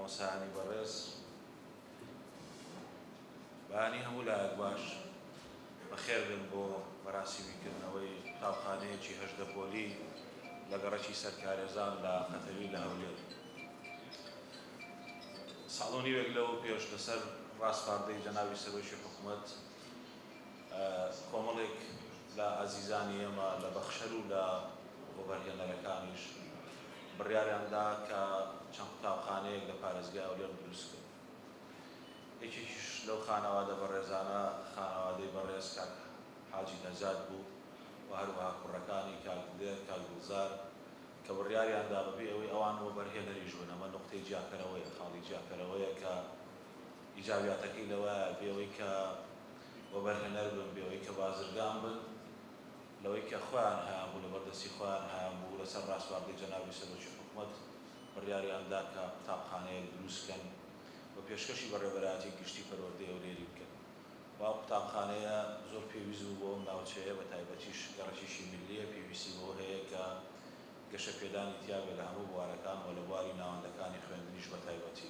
مامۆستایانی بەڕێز بەهانی هەموو لایەک باش بەخێربێن بۆ مەراسیمی کردنەوەی قوتابخانەیەکی هەژدە پۆلی لە گەڕەکی سەرکارێزان لە قەتەوی لە هەولێر ساڵ و نیوێک لەوە پێش لەسەر ڕاسپاردەی جەنابی سەرۆکی حکومەت کۆمەڵێک لە ئازیزانی ئێمە لە بەخشەر و لە وەبەرهێنەرەکانیش بڕیاریان دا کە چەند قوتابخانەیەک لە پارێزگای هەولێر دروست بن. یەکێکیش لەو خانەوادە بەڕێزانە خانەوادەی بەڕێز کاک حاجی نەجات بوو و هەروەها کوڕەکانی کاک دلێر، کاک گوڵزار کە بڕیاریان دا بەبێ ئەوەی ئەوان وەبەرهێنەریش بن، ئەمە نوقتەی جیاکەرەوەیە، خاڵی جیاکەرەوەیە کە. ئیجابیاتەکەی لەوەیە بێوەی کە وەبەرهێنەر بن، بێوەی کە بازرگان بن، لەوەی کە خۆیان هەیانبوو، لەبەر دەستی خۆیان هەیانبوو، لەسەر ڕاسپاردەی جەنابی سەرۆکی حکومەت بڕیاریان دا کە قوتابخانەیەک دروست بکەن و پێشکەشی بەڕێوەبەرایەتی گشتی پەروەردەی هەولێری بکەن و ئەو قوتابخانەیە زۆر پێویست بوو بۆ ئەو ناوچەیە بەتایبەتیش گەڕەکێکی ملیە پێویستی بەوە هەیە کە گەشەپێدانی تیابێت لە هەموو بوارەکان و لە بواری ناوەندەکانی خوێندنیش بەتایبەتی.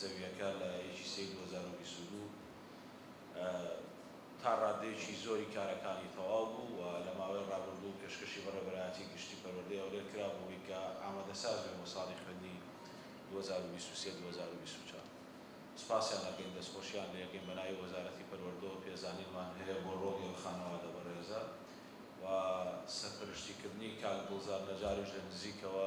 زەوییەکە لە یەکی سێی دوو هەزار و بیست و دوو تا ڕاددەیەکی زۆری کارەکانی تەواو بوو و لە ماوەی ڕابردوو پێشکەشی بەڕێوەبەرایەتی گشتی پەروەردەی هەولێر کرا بۆ وەی کە ئامادەساز بێ بۆ ساڵی خوێندنی دوو هەزار و بیست و سێ دوو هەزار و بیست و چوار سوپاسیان ئەکەین دەستخۆشیان لێ ئەکەین بە ناوی وەزارەتی پەروەردەوە پێزانینمان هەیە بۆ ڕۆڵی ئەو خانەوادە بەڕێزە و سەرپەرشتیکردنی کاک دڵزار نەجاریش لە نزیکەوە.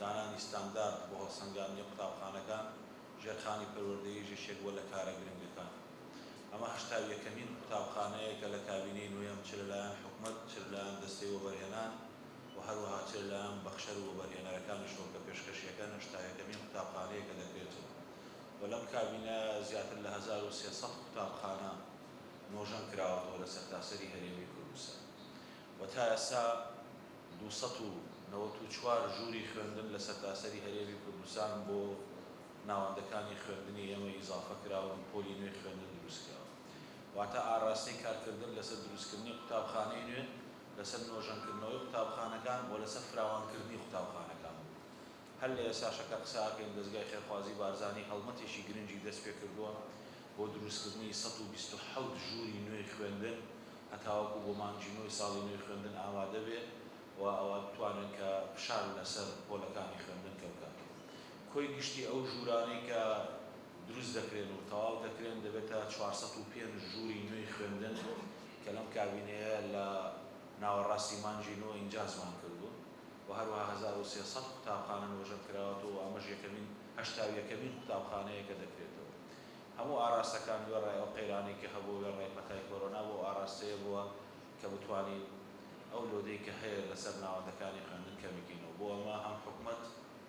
دانانی ستاندارد بۆ هەڵسەنگاندنی قوتابخانەکان، ژێرخانی پەروەردەیش یەکێک بووە لە کارە گرنگەکان. ئەمە هەشتا و یەکەمین قوتابخانەیە کە لە کابینەی نۆیەم چ لەلایەن حکومەت، چ لەلایەن دەستەی وەبەرهێنان و هەروەها چ لەلایەن بەخشەر و وەبەرهێنەرەکانیشەوە کە پێشکەشییەکەن، هەشتا و یەکەمین قوتابخانەیە کە دەکرێتەوە و لەم کابینە زیاتر لە هەزار و سێ سەد قوتابخانە نۆژەن کراوەتەوە لە سەرتاسەری هەرێمی کوردستان. و تا ئێستا دوو سەد و نەوەت و چوار ژووری خوێندن لە سەرتاسەری هەرێمی کوردستان بۆ ناوەندەکانی خوێندنی ئێمە ئیزافە کراون و پۆلی نوێی خوێندن دروست کراوە واتە ئاراستەی کارکردن لەسەر دروستکردنی قوتابخانەی نوێ، لەسەر نۆژەنکردنەوەی قوتابخانەکان و لەسەر فراوانکردنی قوتابخانەکان بوو هەر لە ئێستاشە کە قسە ئەکەین دەزگای خێرخوازی بارزانی هەڵمەتێکی گرنگی دەست پێ کردووە بۆ دروستکردنی سەد و بیست و حەوت ژووری نوێی خوێندن هەتاوەکو بۆ مانگی نۆی ساڵی نوێی خوێندن ئامادە بێ و ئەوە بتوانێ کە فشار لە سەر پۆلەکانی خوێندن کەم کات و کۆی گشتی ئەو ژوورانەی کە دروست دەکرێن و تەواو دەکرێن دەبێتە چوار سەد و پێنج ژووری نوێی خوێندن کە لەم کابینەیە لە ناوەڕاستی مانگی نۆ ئینجازمان کردوون. و هەروەها هەزار و سێ سەد قوتابخانە نۆژەن کراوەتەوە و ئەمەش یەکەمین هەشتا و یەکەمین قوتابخانەیە کە دەکرێتەوە. هەموو ئاراستەکان وێڕای ئەو قەیرانەی کە هەبووە وێڕای پەتای کۆرۆنا بۆ ئەو ئاراستەیە بووە کە بتوانین ئەو لۆدەی کە هەیە لەسەر ناوەندەکانی خوێندن کەمبکەینەوە بۆ ئەمە هەم حکومەت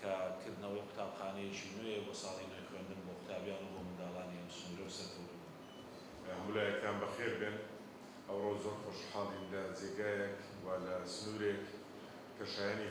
کە کردنەوەی قوتابخانەیەکی نوێیە بۆ ساڵی نوێی خوێندن بۆ قوتابیان و بۆ منداڵانی ئەم سنوورە و سەرکەوتوو بن. هەموولایەکتان بەخێر بێن، ئەوڕۆ زۆر خۆشحاڵین لە جێگایەک و لە سنوورێک کە شایەنی.